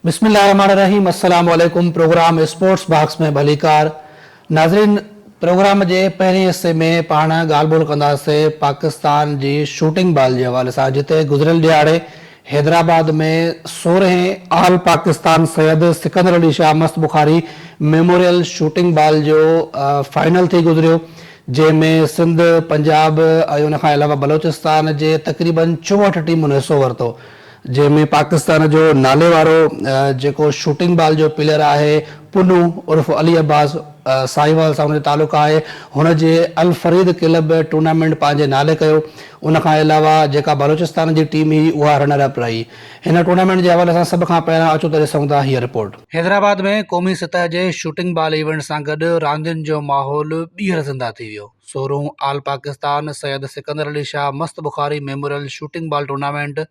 بسم الله الرحمن الرحيم السلام عليڪم پروگرام اسپورٽس باڪس ۾ ڀليڪار ناظرين پروگرام جي پهرين حصي ۾ پاڻ ڳالهه ٻولهه ڪنداسين پاڪستان جي شوٽنگ بال جي حوالي سان جتي گذريل ڏهاڙي حيدرآباد ۾ سورهين آل Pakistan Syed Sikandar Ali Shah Mast Bukhari memorial shooting ball جو فائنل ٿي گذريو جنهن ۾ سنڌ، پنجاب ۽ ان کان علاوه بلوچستان جي تقريبن چوهٺ ٽيمن حصو ورتو جنهن ۾ پاڪستان جو ناليوارو جيڪو شوٽنگ بال جو پليئر آهي پنو عرف علي عباس ساهيوال سان ان جو تعلق آهي هن جي الفريد ڪلب ٽورنامينٽ پنهنجي نالي ڪيو. ان کان علاوه جيڪا بلوچستان جي ٽيم هئي اها رنر اپ رهي. هن ٽورنامينٽ جي حوالي سان سڀ کان پهريان اچو ته ڏسون ٿا هيء رپورٽ. حيدرآباد ۾ قومي سطح جي شوٽنگ بال ايونٽ سان گڏ راندين جو ماحول ٻيهر زنده ٿي ويو. سورهون آل Pakistan Syed Sikandar Ali Shah Mast Bukhari memorial shooting ball tournament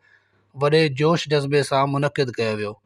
وڏي جوش جذبي سان منعقد ڪيو ويو.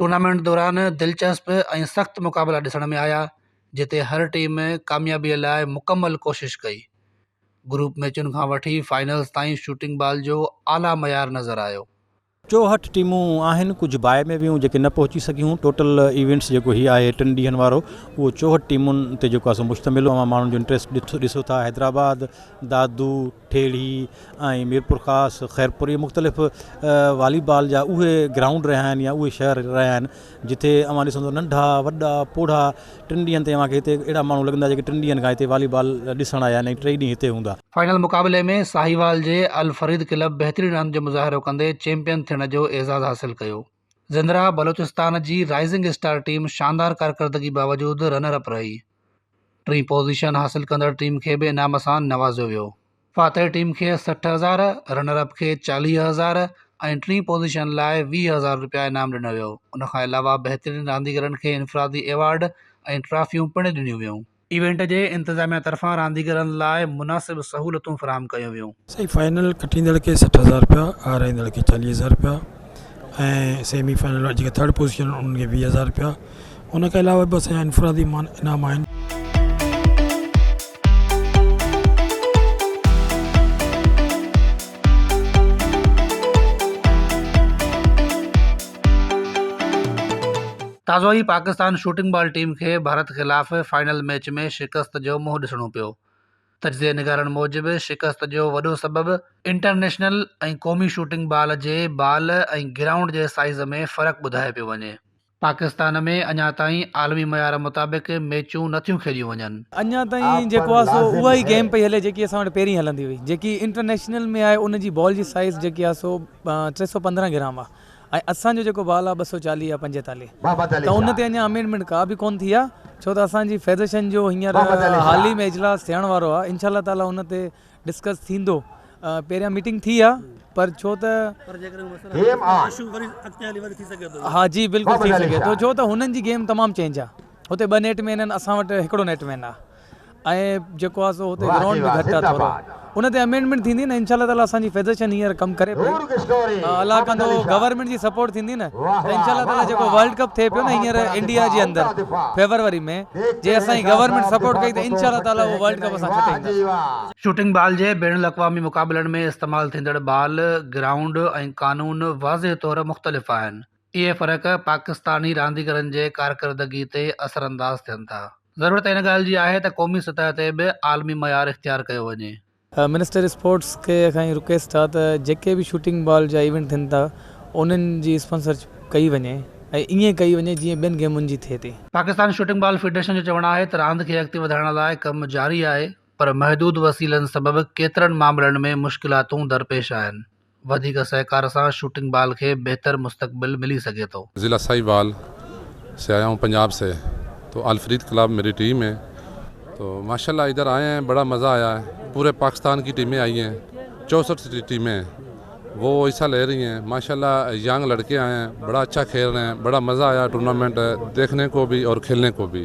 ٽورنامينٽ دوران دلچسپ ۽ سخت مقابلا ڏسڻ ۾ آيا جتي هر ٽيم ڪاميابي لاء مڪمل ڪوشش ڪئي گروپ ميچن کان وٺي فائنلز تائين شوٽنگ بال جو اعليٰ معيار نظر آيو. چوهٺ ٽيمون آهن ڪجهه باء ۾ ويون جيڪي نه پهچي سگهيون ٽوٽل ايونٽس جيڪو هي آهي ٽن ڏينهن وارو اهو چوهٺ ٽيمون تي جيڪو آهي سو مشتمل هو اوهان ماڻهن جو انٽريسٽ ڏسو ٿا حيدرآباد دادو ٺيڙهي ۽ ميرپورخاص، خيرپور اهي مختلف والي بال جا اهي گرائونڊ رهيا آهن يا اهي شهر رهيا آهن جتي اوهان ڏسندو ننڍا وڏا پوڙها ٽن ڏينهن تائين اوهان کي هتي اهڙا ماڻهو لڳندا جيڪي ٽن ڏينهن کان هتي والي بال ڏسڻ آيا آهن ۽ ٽئي ڏينهن هتي هوندا. فائنل مقابلي ۾ ساهيوال جي الفريد ڪلب بهترين راند جو مظاهرو ڪندي چيمپيئن ٿيڻ جو اعزاز حاصل ڪيو. زندرا بلوچستان جي رائزنگ اسٽار ٽيم شاندار ڪارڪردگي باوجود رنر اپ رهي، ٽين پوزيشن حاصل ڪندڙ ٽيم کي به انعام سان نوازيو ويو. فاتح ٽيم کي سٺ هزار، رنر اپ کي چاليهه هزار ۽ ٽين پوزيشن لاء ويهه هزار رپيا انعام ڏنو ويو، ان کان علاوه بهترين رانديگرن کي انفرادي ايوارڊ ۽ ٽرافيون پڻ ڏنيون ويون. ايونٽ جي انتظاميا طرفان رانديگرن لاء مناسب سهولتون فراهم ڪيون ويون. سائين فائنل کٽيندڙ کي سٺ هزار روپيا هارائيندڙ کي چاليهه هزار روپيا ۽ سيمي فائنل وارا جيڪي ٿرڊ پوزيشن آهن انهن کي ويهه هزار روپيا ان کان علاوه به اسان جا انفرادي مان انعام آهن. تازو ئي پاڪستان شوٽنگ بال ٽيم کي ڀارت خلاف فائنل ميچ ۾ شڪست جو منهن ڏسڻو پيو. تجزيه نگارن موجب شڪست جو وڏو سبب انٽرنيشنل ۽ قومي شوٽنگ بال جي بال ۽ گرائونڊ جي سائيز ۾ فرق ٻڌايو پيو وڃي. پاڪستان ۾ اڃا تائين عالمي معيار مطابق ميچون نه ٿيون کيڏيون وڃن. اڃا تائين جيڪو آهي سو اها ئي گيم پئي هلي جيڪي اسان وٽ پهرين هلندي هئي. جيڪي انٽرنيشنل ۾ آهي ان جي بال جي سائيز جيڪي آهي سو ٽي سؤ پندرهن گرام آهي. ۽ اسان جو جيڪو بال آهي ٻه سؤ چاليهه يا پنجيتاليهه ته ان تي اڃان امينڊمينٽ ڪا به ڪونه ٿي آهي ڇو ته اسان جي فيدريشن جو هينئر حال ئي ۾ اجلاس ٿيڻ وارو آهي انشاء الله تعالي ان تي ڊسڪس ٿيندو پهريان ميٽنگ ٿي آهي پر ڇو ته ها جي بلڪل ٿي سگهي ٿو ڇو ته هنن جي گيم تمام چينج آهي هتي ٻه نيٽ مين آهن اسان وٽ هڪڙو نيٽ مين آهي شوٽنگ بال جي بين الاقوامي مقابلن ۾ استعمال ٿيندڙ بال، گرائونڊ ۽ قانون واضح طور مختلف آهن. اهي فرق پاڪستاني رانديگرن جي ڪارڪردگي تي اثر انداز ٿين ٿا، ضرورت ان ڳالهه جي آهي ته قومي سطح تي به عالمي معيار اختيار ڪيو وڃي. منسٽر اسپورٽس کي اکائين رڪيس ٿا ته جيڪي به شوٽنگ بال جا ايونٽ ٿين ٿا انهن جي اسپانسرشپ ڪئي وڃي ۽ ائين ڪئي وڃي جيئن ٻين گيمن جي ٿئي ٿي. پاڪستان شوٽنگ بال فيڊريشن جو چوڻ آهي ته راند کي اڳتي وڌائڻ لاء ڪم جاري آهي پر محدود وسيلن سبب ڪيترن معاملن ۾ مشڪلاتون درپيش آهن. وڌيڪ سهڪار سان شوٽنگ بال کي بهتر مستقبل ملي سگهي ٿو. ضلع ساهيوال سي آيا هون پنجاب سي تو الفريد کلاف ميري ٽيم هي تو ماشاء الله ادھر آئي هين بڙا مزا آيا هين پوري پاڪستان ڪي ٽيمين آئي هين چوسٺ سي ٽيمين هين وو حصا لي رهي هين ماشاء الله يانگ لڙڪي آئي هين بڙا اچھا کيل رهي هين بڙا مزا آيا ٽورنامينٽ ديکني ڪو بي اور کيلني ڪو بي.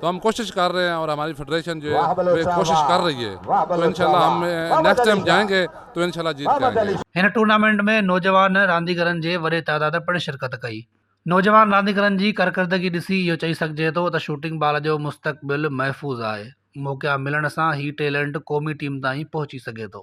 تو ھم ڪوشش ڪر رھي ھين اور ھماري فيڊريشن جو ھي ڪوشش ڪر رھي ھي تو انشاءالله ھم نيڪسٽ ٽائيم جائين گي تو انشاءالله جيت جائين گي. ھن ٽورنامينٽ ۾ نوجوان رانديگرن جي وڏي تعداد پڻ شرڪت ڪئي نوجوان رانديگرن جي ڪارڪردگي ڏسي اھو چئي سگھجي ٿو ته شوٽنگ بال جو مستقبل محفوظ آھي موقعا ملڻ سان ھي ٽيلنٽ قومي ٽيم تائين پهچي سگھي ٿو.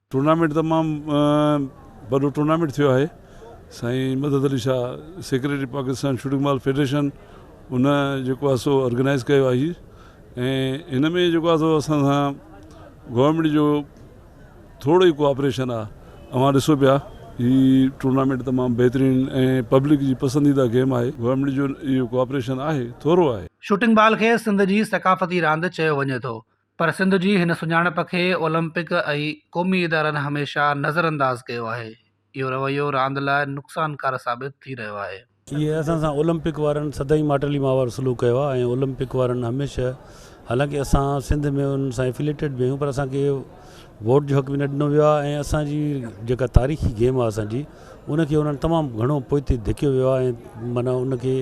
ٽورنامينٽ تمام وڏو ٽورنامينٽ ٿيو آهي سائين Madad Ali Shah secretary Pakistan shooting ball federation ان جيڪو آهي سو آرگنائز ڪيو آهي ۽ ان ۾ جيڪو آهي سو اسان سان گورنمينٽ جو ٿورو ئي ڪوآپريشن آهي اوهان ڏسو پيا هي ٽورنامينٽ تمام بهترين ۽ پبلڪ جي پسنديده گيم آهي گورنمينٽ جو اهو ڪوآپريشن آهي ٿورو آهي. شوٽنگ بال کي سنڌ جي ثقافتي راند چيو وڃي ٿو پر سنڌ جي هن سڃاڻپ کي اولمپڪ ۽ قومي ادارن هميشه نظرانداز ڪيو آهي، اهو رويو راند لاء نقصانڪار ثابت ٿي رهيو آهي. ايئن اسان سان اولمپڪ وارن سدائين ماٽيلي ماء وارو سلوڪ ڪيو آهي ۽ اولمپڪ وارن هميشه حالانڪه اسان سنڌ ۾ انهن سان افيليٽيڊ به آهيون پر اسان کي ووٽ جو حق به نه ڏنو ويو آهي ۽ اسان جي جيڪا تاريخي گيم آهي اسان جي ان کي انهن تمام گهڻو پوئتي ڌڪيو ويو آهي ۽ معنيٰ ان کي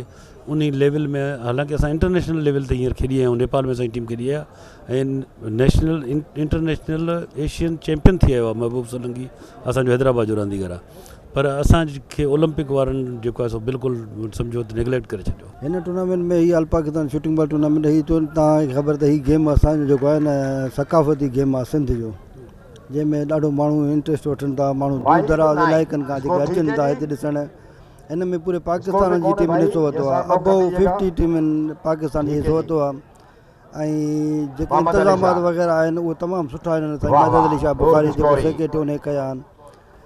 انهي ليول ۾ حالانڪه اسان انٽرنيشنل ليول تي هينئر کيڏي آيا آهيون نيپال ۾ اسان جي ٽيم کيڏي آهي ۽ نيشنل انٽرنيشنل ايشين چيمپين ٿي آيو آهي محبوب سولنگي اسانجو حيدرآباد جو رانديگر آهي پر اسان کي اولمپڪ وارن جيڪو آهي سو بلڪل سمجهو ته نيگليڪٽ ڪري ڇڏيو هن ٽورنامينٽ ۾ هي all Pakistan shooting ball tournament هي چون توهان کي خبر ته هي گيم اسان جو جيڪو آهي نه ثقافتي گيم آهي سنڌ جو جنهن ۾ ڏاڍو ماڻهو انٽريسٽ وٺن ٿا ماڻهو دور دراز علائقن کان جيڪي اچن ٿا هتي ڏسڻ ان ۾ پوري پاڪستان جي ٽيمن حصو ورتو آهي ابو ففٽي ٽيمن پاڪستان جي حصو ورتو آهي ۽ جيڪي انتظامات وغيره آهن اهو تمام سٺا آهن سائين مدد علي شاهه بخاري جيڪو سيڪريٽري هن ڪيا آهن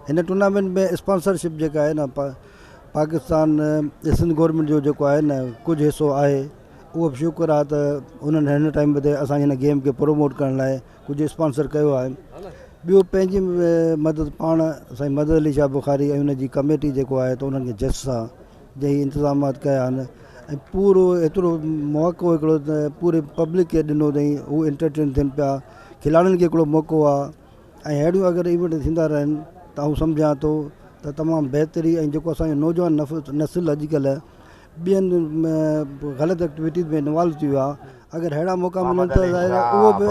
هن ٽورنامينٽ ۾ اسپانسرشپ جيڪا آهي نه پاڪستان سنڌ گورنمنٽ جو جيڪو آهي نه ڪجهه حصو آهي اهو بشڪر آهي ته انهن هن ٽائيم تي اسان جي هن گيم کي پروموٽ ڪرڻ لاء ڪجهه اسپانسر ڪيو آهن ٻيو پنهنجي مدد پاڻ سائين مدد علي شاهه بخاري ۽ ان جي ڪميٽي جيڪو آهي ته انهن کي جس سان جي انتظامات ڪيا آهن ۽ پورو ايترو موقعو هڪڙو ته پوري پبلڪ کي ڏنو اٿئي هو انٽرٽين ٿين پيا کلاڙين کي هڪڙو موقعو آهي ۽ اهڙيون اگر ايونٽ ٿيندا رهن ته آئون سمجهان ٿو ته تمام بهتري ۽ جيڪو اسانجو نوجوان نسل اڄڪلهه ٻين غلط ايڪٽويٽيز ۾ انوالو ٿي ويا اگر اهڙا موقعا ملن ته ظاهر آهي اهو به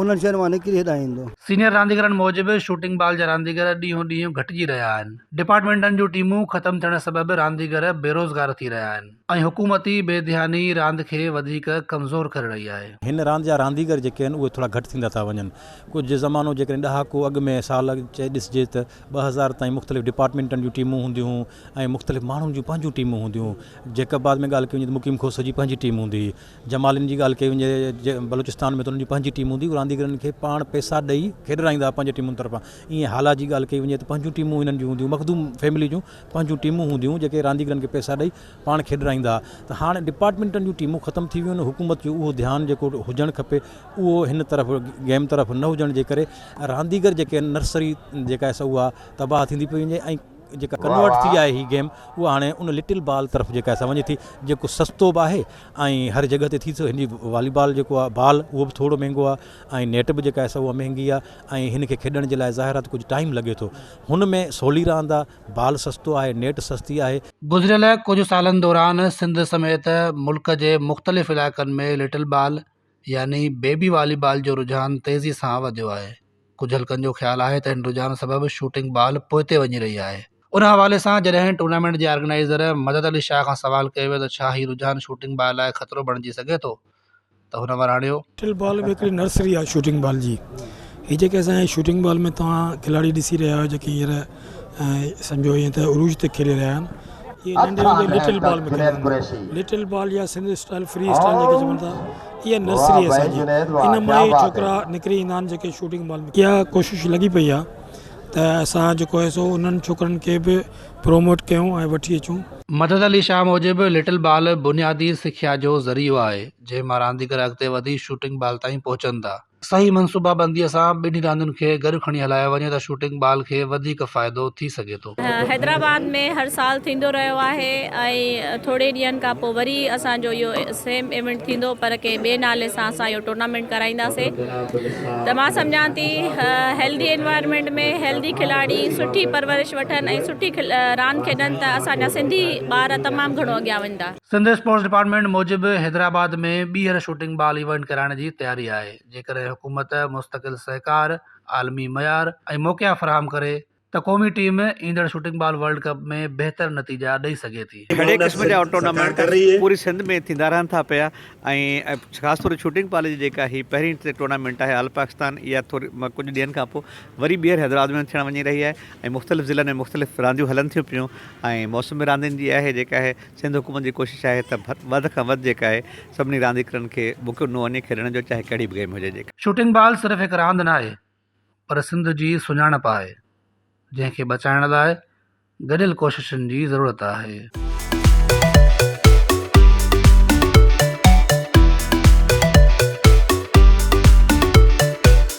انهن شين مان نڪري هيڏانهن ايندو. سينيئر رانديگرن موجب شوٽنگ بال جا رانديگر ڏينهون ڏينهن گهٽجي رهيا آهن، ڊپارٽمينٽن جون ٽيمون ختم ٿيڻ سبب رانديگر بيروزگار ٿي رهيا آهن ۽ حڪومتي بي ڌياني راند کي وڌيڪ ڪمزور ڪري رهي آهي. هن راند جا رانديگر جيڪي آهن اهي ٿورا گهٽ ٿيندا ٿا وڃن، ڪجهه زمانو جيڪڏهن ڏهاڪو اڳ ۾ سال چئي ڏسجي ته ٻه هزار تائين مختلف ڊپارٽمينٽن جون ٽيمون هونديون هيون، ۽ مختلف ماڻهن جون پنهنجون ٽيمون هونديون، جيڪب آباد ۾ ڳالهه ڪئي وڃي ته مقيم کوسو جي پنهنجي ٽيم هوندي هئي، جمالين جي ڳالهه ڪئي وڃي جي بلوچستان ۾ ته انهن جي پنهنجي ٽيم هوندي هئي، رانديگرن کي پاڻ پئسا ڏئي کيڏرائيندا هئا پنهنجي ٽيمن طرفان، ائين هالا جي ڳالهه ڪئي وڃي ته پنهنجون ٽيمون هنن جون هونديون، مخدوم فيملي جون پنهنجون ٽيمون هونديون هيون جيڪي رانديگرن کي پئسا ڏئي پاڻ کيڏرائيندا هئا ته هاڻ ڊپارٽمينٽن جون ٽيمون ختم ٿي ويون آهن، حڪومت جو اهو ڌيان جيڪو هجڻ کپي اهو هن طرف گيم طرف نه هجڻ جي ڪري رانديگر جيڪي نرسري جيڪا سا اها تباهه ٿيندي پئي وڃي ۽ جيڪا ڪنورٽ ٿي آهي هي گيم اها هاڻي ان لٽل بال طرف جيڪا سا وڃي ٿي جيڪو سستو به آهي ۽ هر جڳهه تي ٿي ٿو هن جي والي بال جيڪو آهي بال اهو به ٿورو مهنگو آهي ۽ نيٽ به جيڪا سا اها مهنگي آهي ۽ هن کي کيڏڻ جي لاء ظاهر آهي ته ڪجهه ٽائيم لڳي ٿو هن ۾ سولي راند آهي بال سستو آهي نيٽ سستي آهي. گذريل ڪجهه سالن دوران سنڌ سميت ملڪ جي مختلف علائقن ۾ لٽل بال يعني بيبي والي بال جو رجحان تيزي سان وڌيو آهي ڪجهه حلقن جو خيال آهي ته هن رجحان سبب شوٽنگ بال پوئتي وڃي رهي آهي ان حوالي سان جڏهن ٽورنامينٽ جي آرگنائيزر مدد علي شاهه کان سوال ڪيو ويو ته ڇا هي رجحان شوٽنگ بال لاء خطرو بڻجي سگهي ٿو ته هن وراڻيو. ٽل بال به هڪڙي نرسري آهي شوٽنگ بال جي هي جيڪي اسان جي شوٽنگ بال ۾ توهان کلاڙي ڏسي رهيا آهيو جيڪي هينئر سمجهو ائين ته عروج تي کيڏي رهيا آهن. اهي ننڍي هوندي لٽل بال ۾ کيڏندا هوندا هئا. لٽل بال يا سنڌي اسٽائيل فري اسٽائيل جنهن کي چون ٿا اها نرسري اسان جي. ان مان ئي ڇوڪرا نڪري ايندا آهن جيڪي شوٽنگ بال ۾ کيڏندا آهن. اها ڪوشش لڳي پئي آهي ته اسان جيڪو آهي سو انهن ڇوڪرن کي به پروموٽ ڪيون ۽ وٺي اچون. مدد علي شاهه موجب لٽل بال بنيادي سکيا جو ذريعو آهي جنهن مان رانديگر اڳتي وڌي شوٽنگ بال تائين پهچن ٿا. صحيح منصوبا بنديء سان ٻنهي راندين کي گڏ کڻي هلايو وڃي ته شوٽنگ بال کي وڌيڪ فائدو ٿي سگهي ٿو. حيدرآباد ۾ هر سال ٿيندو رهيو آهي ۽ ٿوري ڏينهن کان پوء وري اسان جو اهو سيم ايونٽ ٿيندو پر ڪنهن ٻئي نالي سان اسان اهو ٽورنامينٽ ڪرائينداسين ته مان سمجهان ٿي هيلڌي انوائرمينٽ ۾ هيلڌي کلاڙي سٺي پرورش وٺن ۽ سٺي راند کيڏن ته اسان جا سنڌي ٻار تمام گهڻو اڳيان وڃدا. سنڌ اسپورٽس ڊپارٽمينٽ موجب حيدرآباد ۾ ٻيهر شوٽنگ بال ايونٽ ڪرائڻ جي تياري آهي جيڪڏهن حڪومت مستقل سهڪار، عالمي معيار ۽ موقعا فراهم ڪري ته قومي ٽيم ايندڙ شوٽنگ بال ورلڊ ڪپ ۾ بهتر نتيجا ڏئي سگهي ٿي. گهڻي قسم جا ٽورنامينٽ پوري سنڌ ۾ ٿيندا رهن ٿا پيا ۽ خاص طور شوٽنگ بال جي جيڪا هي پهرين ٽورنامينٽ آهي آل پاڪستان اها ٿوري ڪجهه ڏينهن کان پوء وري ٻيهر حيدرآباد ۾ ٿيڻ وڃي رهي آهي ۽ مختلف ضلعن ۾ مختلف رانديون هلن ٿيون پيون ۽ موسم به راندين جي آهي جيڪا هي سنڌ حڪومت جي ڪوشش آهي ته وڌ کان وڌ جيڪا آهي سڀني رانديڪرن کي موقعو ڏنو وڃي کيڏڻ جو چاهي ڪهڙي به گيم هجي جيڪا. شوٽنگ بال صرف هڪ راند ناهي پر سنڌ جي سڃاڻپ آهي جنهن کي بچائڻ لاء گڏيل ڪوششن جي ضرورت آهي.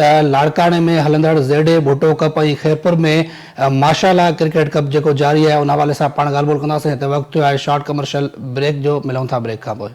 ته لاڙڪاڻي ۾ هلندڙ Z A Bhutto cup ۽ Khairpur ۾ ماشالا ڪرڪيٽ ڪپ جيڪو جاري آهي ان حوالي سان پاڻ ڳالهه ٻولهه ڪنداسين هتي وقت ٿيو آهي شارٽ ڪمرشل بريڪ جو ملون ٿا بريڪ کان پوء.